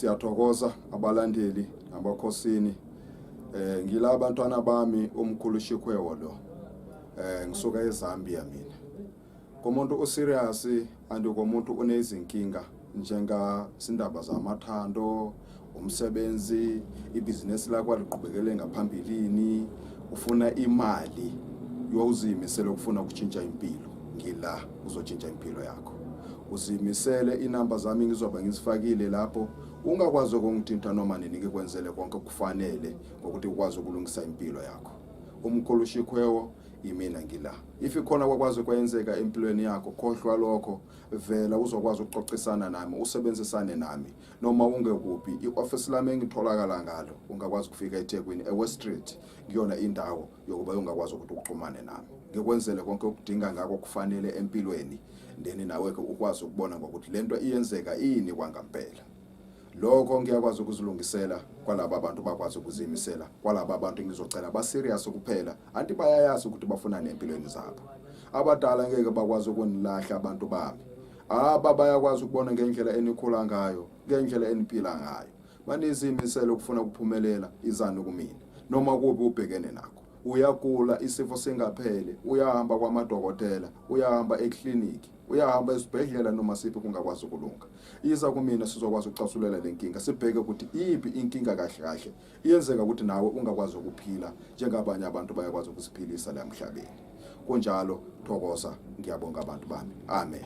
siyathokoza abalandeli nabakhosini eh ngila abantwana bami umkhulu Shikhwewo lo eh ngisuka eZambia mina komuntu userious and komuntu unezinkinga njenga sindaba zamathando umsebenzi ibhizinesi lakho aliqhubekele ngaphambilini ufuna imali yowuzimisele ukufuna ukutshintsha impilo ngila uzotshintsha impilo yakho uzimisele inamba zami ngizoba ngizifakile lapho ungakwazi ukungithinta noma nini ngikwenzele konke kufanele ngokuthi ukwazi ukulungisa impilo yakho umkhulu shikwewo yimina ngila if ikhona kwakwazi kwenzeka empilweni yakho khohlwa lokho vela uzokwazi ukuxoxisana nami usebenzisane nami noma ungekuphi i-office lami engitholakala ngalo ungakwazi ukufika eThekwini eWest Street kuyona indawo yokuba ungakwazi ukuthi uxhumane nami ngikwenzele konke okudinga ngako kufanele empilweni ndeni nawe ke ukwazi ukubona ngokuthi lento iyenzeka ini kwangampela lokho ngiyakwazi ukuzilungisela kwalaba abantu bakwazi ukuzimisela kwalaba abantu ngizocela baserious kuphela anti bayayazi ukuthi bafunani empilweni zabo abadala ngeke bakwazi ukunilahla abantu bami aba bayakwazi ukubona ngendlela enikhula ngayo ngendlela eniphila ngayo banizimisela ukufuna ukuphumelela izani kumina noma kubi ubhekene nakho uyagula isifo singaphele uyahamba kwamadokotela uyahamba ekliniki uyahamba esibhedlela noma siphi kungakwazi ukulunga Iza kumina sizokwazi ukuxasulela le nkinga sibheke ukuthi iyiphi inkinga kahle kahle iyenzeka ukuthi nawe ungakwazi ukuphila njengabanye abantu bayakwazi ukuziphilisa la emhlabeni. Kunjalo thokoza ngiyabonga abantu bami. Amen.